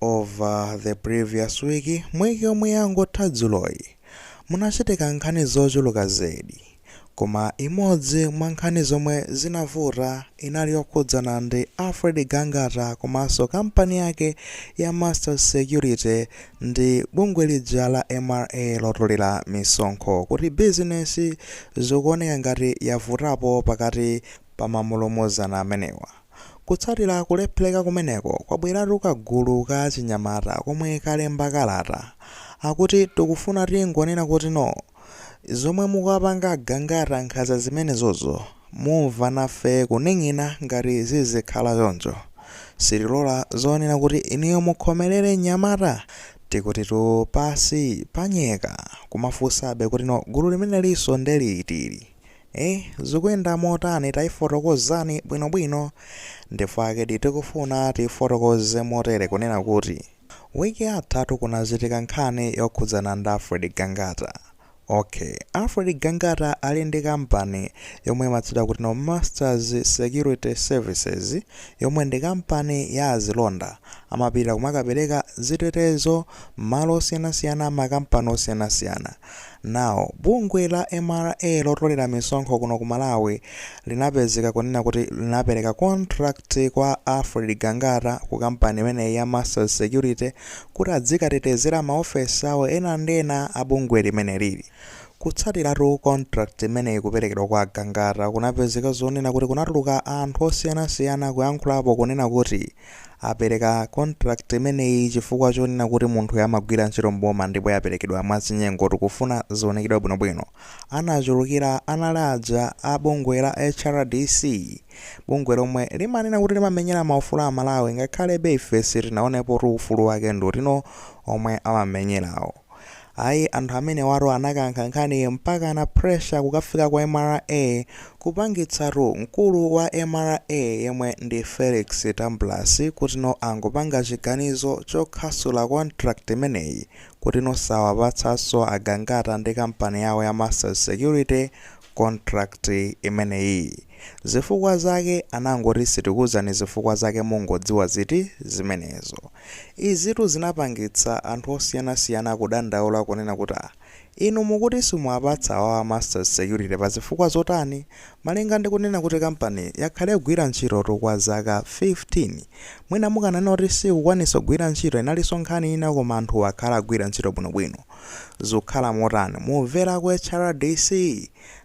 Over the previous week, week yomwe yangotha dzuloyi, munachitika nkhani zochuluka zedi, koma imodzi mwa nkhani zomwe zinavuta inali yokhudzana ndi Alfred Gangata komanso kampani yake ya Masters Security ndi bungwe lija la mra lotolera misonkho kuti bizinesi zikuoneka ngati yavutapo pakati pa mamulumuzana amenewa. Kutsatira kulephereka kumeneko, kwabweratu kagulu ka achinyamata komwe kalemba kalata akuti tikufuna tingonena kuti no! Zomwe mukuwapanga a Gangata nkhanza zimenezozo mumva nafe kuning'ina ngati zizikhala choncho sitilola zonena kuti inuyo mukhomelere mnyamata tikutitu pansi panyeka kumafunsabe kuti no! Gulu limenelinso nde liti ili? Eh zukuyenda motani taifotokozani bwino bwino ndifukwakedi tikufuna tiifotokoze motere kunena kuti week yathatu kunachitika nkhani yokhudzana ndi Alfred Gangata ok Alfred Gangata ali ndi company yomwe imatchedwa kuti no masters security services yomwe ndi company ya azilonda amapita kumakapereka zitetezo mmalo osiyanasiyana mma company osiyanasiyana Now, bungwe la mra lotolera misonkho kuno ku Malawi linapezeka kunena kuti linapereka contract kwa Alfred Gangata ku kampani imeneyi ya Masters Security kuti adzikatetezera ma ofesi awo ena ndi ena a bungwe limenelili. Kutsatiratu contract imeneyi kuperekedwa kwa a Gangata, kunapezeka zonena kuti kunatuluka anthu osiyanasiyana kuyankhulapo kunena kuti, Apereka contract imeneyi chifukwa chonena kuti munthuyo amagwira ntchito m'boma ndipo yaperekedwa mwachinyengo. Tikufuna zionekedwe bwinobwino. Anachulukira anali aja a bungwe la HRDC, bungwe lomwe limanena kuti limamenyera maufulu a Amalawi ngakhalebe ife sitinaonepotu ufulu wake ndi utino omwe amamenyerawo. Ayi anthu amenewatu anakankha nkhaniyi mpakana pressure kukafika ku mra kupangitsatu mkulu wa mra yemwe ndi Felix Tambulasi kuti no angopanga chiganizo chokhasula contract imeneyi kuti no sawapatsanso a Gangata ndi company yawo ya Masters Security contract imeneyiyi. Zifukwa zake anangoti sitikuuzani zifukwa zake mungodziwa ziti zimenezo. Izitu zinapangitsa anthu osiyanasiyana kudandaula kunena kuti ah inu mukuti simuwapatsa awawa a Masters Security pa zifukwa zotani malinga ndi kunena kuti company yakhala ikugwira ntchitotu kwa zaka 15. Mwina mukananena kuti siikukwanitsa kugwira ntchito inalinso nkhani ina koma anthuwa akhala akugwira ntchito bwinobwino. zukhala motani mumvela ku hrdc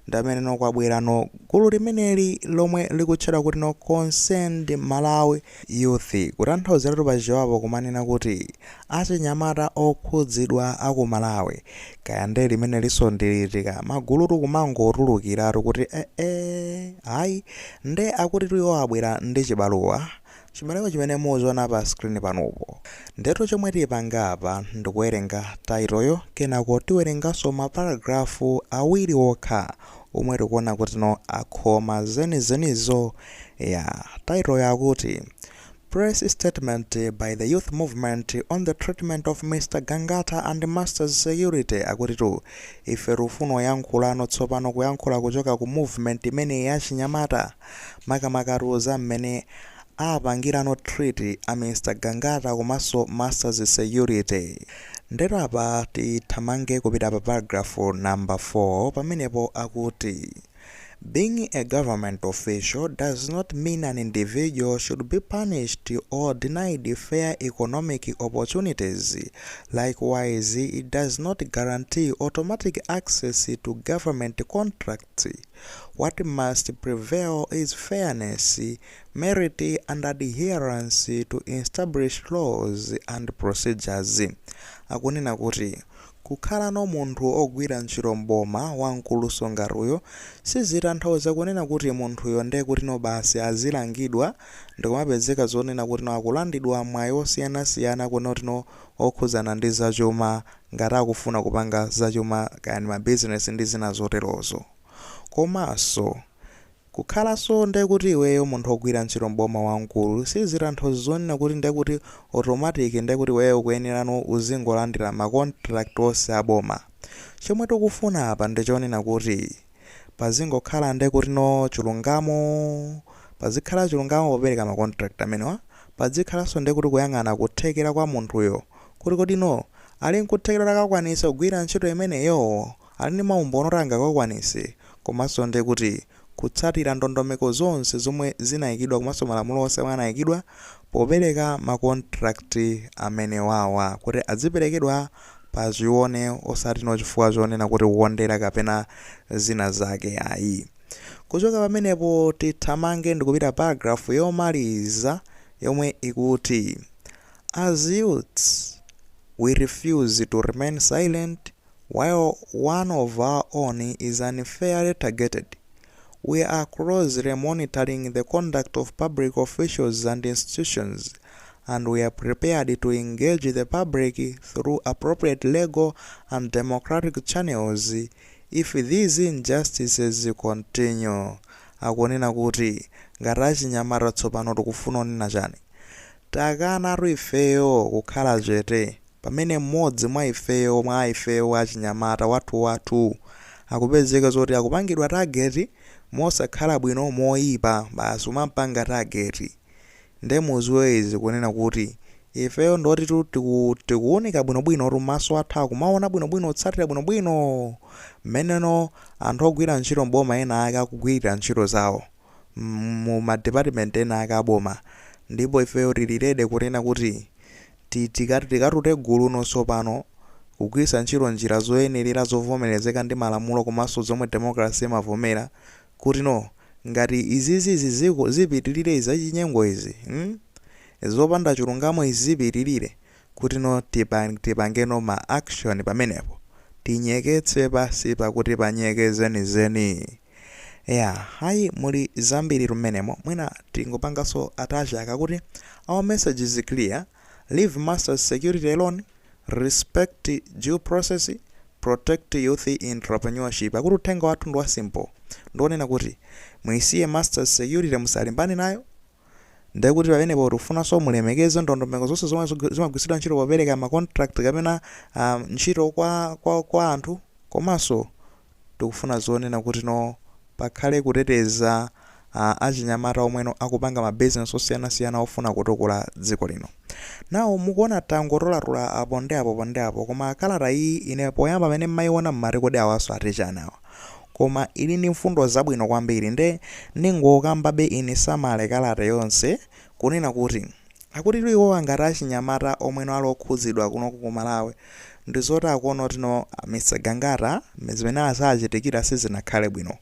ndamene no kwabwela no gulu limeneli lomwe likutchedwa kuti no concerned malawi youth kutanthauzilatu pa chichewa kumanena kuti achinyamata okhudzidwa aku malawi kaya nde limeneliso ndiliti ka magulutu kumangotulukilatu kuti eeh ayi nde akutitu iwo abwela ndi chibaluwa Chibaluwa chimene muziona pa screen panupo. Ndetu chomwe tipanga apa ndikuwerenga title yo kenako tiwerenganso ma paragraph awiri okha omwe tikuona kuti no akhoma zenizenizo ya title yo akuti Press statement by the youth movement on the treatment of Mr Gangata and Masters Security akutitu ife tikufunano kuyankhulano tsopano kuyankhula kuchoka ku movement imeneyi ya achinyamata makamakatu za mmene apangirano treat a Mr Gangata komanso Masters Security. Ndetu apa tithamange kupita pa paragraph number 4 pamenepo akuti Being a government official does not mean an individual should be punished or denied fair economic opportunities, likewise it does not guarantee automatic access to government contracts. What must prevail is fairness, merit and adherence to established laws and procedures. Akunena kuti kukhalano munthu ogwira ntchito m'boma wamkulunso ngati uyo sizitanthauza kunena kuti munthuyo nde kutino basi azilangidwa ndikumapezeka zonena kutino akulandidwa mwayi osiyanasiyana kutino okhudzana ndi zachuma ngati akufuna kupanga zachuma kaya ndi ma business ndi zina zoterozo. Komaso kukhalaso ndekuti iweyo munthu ogwira ntchito m'boma wamkulu sizitanthauza zonena kuti ndekuti automatic ndekuti iweyo ukuyenerano uzingolandira ma contract onse aboma. Chomwe tikufuna apa ndichonena kuti. pazingokhala nde kuti no chilungamo pazikhala chulungamo popereka ma contract amenewa padzikhalanso nde kuti kuyang'ana kuthekera kwa munthuyo kuti kodi no ali nkuthekera kuti akakwanitse kugwira ntchito imeneyo ali ndi maumboni oti angakakwanitse komanso nde kuti kutsatira ndondomeko zonse zomwe zinaikidwa komanso malamulo onse omwe anaikidwa popereka ma contract amenewawa kuti adziperekedwa pa chione osati no chifukwa chonena kuti kukondera kapena zina zake ayi kuchoka pamenepo tithamange ndikupita paragraph yomaliza yomwe ikuti as youths we refuse to remain silent while one of our own is unfairly targeted We are closely monitoring the conduct of public officials and institutions and we are prepared to engage the public through appropriate legal and democratic channels if these injustices continue. Akunena kuti ngati achinyamata tsopano tikufuna onena chani? Takanatu ifeyo kukhala chete. Pamene mmodzi mwa ifeyo, mwa ifeyo wachinyamata, wathu, wathu akupezeka zoti akupangidwa target mosakhala bwino, moyipa, basi kumampanga target. Nde mudziwe izi kunena kuti ifeyo ndotitu tiku, tikuwunika bwino bwinotu, maso athu akumawona bwino bwino, kutsatira bwino bwino mmeneno anthu ogwira ntchito m'boma ena ake akugwirira ntchito zawo, mu ma department ena ake aboma, ndipo ifeyo tili ready kunena kuti Tikati tikatute guluno tsopano, kugwiritsa ntchito njira zoyenerera zovomerezeka ndi malamulo komanso zomwe democracy imavomera, kuti no, ngati izizi ziziko zipitilire izi zachinyengo izi mm zopanda chilungamo izi zipitilire, kuti no tipang tipange no ma action pamenepo, tinyeketse pansi pa kuti panyeke zenizeni. ya hayi muli zambiri tu m'menemo mwina tingopanganso touch. Akuti our message is clear leave masters security alone respect due process protect youth entrepreneurship akuti uthenga wathu ndi wa simple ndi wonena kuti muisiye masters security musalimbane nayo ndiye kuti pamenepo tikufunanso mulemekeze ndondomeko zonse zomwe zog- zimagwiritsidwa ntchito popereka ma contract kapena ah, ntchito kwa, kwa, kwa anthu komanso tikufuna zonena kuti no pakhale kuteteza ah, achinyamata omweno akupanga ma business osiyanasiyana ofuna kutukula dziko lino now mukuona tangotolatola apo ndi apo pa ndi apo koma kalata iyi ine poyamba pamene mmayiona mmati kodi awanso ati chani awa koma ili ndi mfundo zabwino kwambiri nde ndingokambabe ine summary kalata yonse kunena kuti akutitu iwowa ngati achinyamata omweno ali okhudzidwa kunoko ku Malawi ndizoti akuona kuti no Mr Gangata zimene zawachitikira sizinakhale bwino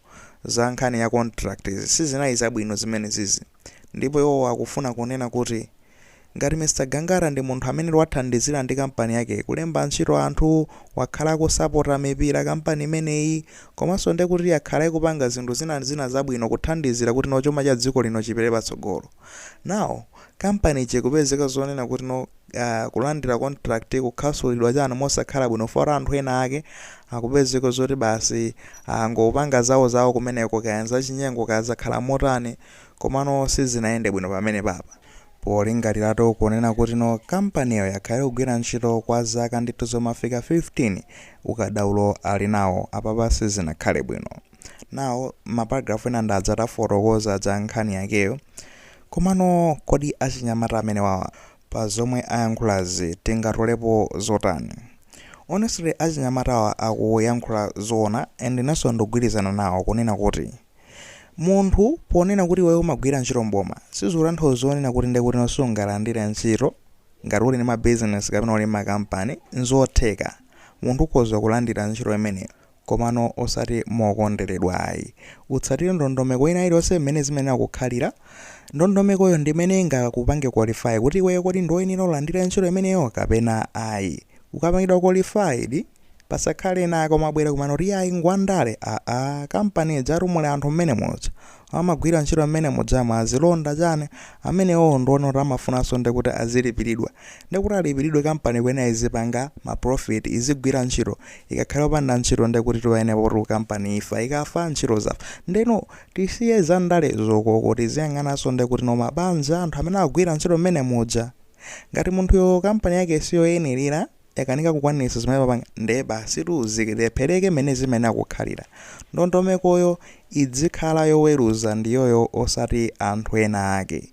za nkhani ya contract izi sizinali zabwino zimenezizi Ndipo iwowa akufuna kunena kuti ngati Mr Gangata ndi munthu amene wathandizira ndi kampani yakeyi kulemba ntchito anthu, wakhala akusapota mipira kampani imeneyi komanso ndekuti yakhala ikupanga zinthu zina ndi zina zabwino kuthandizira kuti no chuma cha dziko lino chipite patsogolo now kampani ija ikupezeka zonena kuti no uh, kulandira contract kukhasulidwa chani mosakhala bwino for anthu ena ake akupezeka zoti basi angopanga ah, zawo zawo kumeneko kaya zachinyengo kaya zakhala motani komano sizinayende bwino pamene papa polingaliratu kunena kuti no kampaniyo yakhala ikugwira ntchito kwa zaka ndithu zomafika 15 ukadaulo ali nawo apapa sizinakhale bwino now maparagrafu ena ndadzatafotokoza za nkhani yakeyo Komano kodi achinyamata amenewa pa zomwe ayankhulazi tingatolepo zotani? Honestly achinyamatawa akuyankhula zoona and inenso ndikugwirizana nawo kunena kuti munthu ponena kuti iweyo umagwira ntchito m'boma sizikutanthauza zonena kuti nde kuti no sungalandire ntchito ngati uli ndi ma business kapena uli ndi ma company nzotheka munthu ukhoza kulandira ntchito imeneyo Komano osati mokonderedwa ayi. Utsatire ndondomeko ina iliyonse mmene zimayenera kukhalira. Ndondomekoyo ndi imene ingakupange qualify kuti iweyo kodi ndiwe woyenera ulandire ntchito imeneyo kapena ayi. Ukapangidwa qualified, pasakhale ena ake omabwera kumano kuti iyayi ngwandale, aa, company ijatu muli anthu m'menemuja, amagwira ntchito mmene mujamu alonda chani amenewowo ndiona kuti amafunanso ndekuti azilipilidwa ndekuti alipilidwe kampani kuyenera izipanga ma profit izigwira ntchito ikakhala opanda ntchito ndekuti tiwaene poti kampani ifa ikafa ntchito zafa ndeno tisiye za ndale zokoko tiziyang'ananso ndekuti no mabanja anthu amene akugwira ntchito mmene muja ngati munthuyo kampani yake siyoyenelera yakanika kukwanitsa zimene amapanga ndiye basitu zilephereke mmene zimayenera kukhalira. Ndondomekoyo izikhala yoweruza ndiyoyo osati anthu ena ake.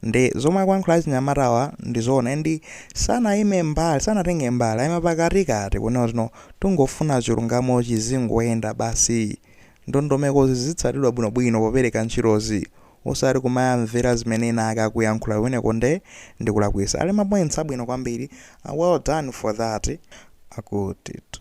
Ndi zomwe akuyankhula achinyamatawa ndi zoona and sanayime mbali, sanatenge mbali, ayima pakatikati kunena kuti no tingofuna chilungamo chizingoyenda basi. Ndondomekozi zizitsatidwa bwinobwino popereka ntchitozi osati kumayamvera zimene ena ake akuyankhula kumeneko nde ndikulakwitsa ali ma points abwino kwambiri well done for that akutitu.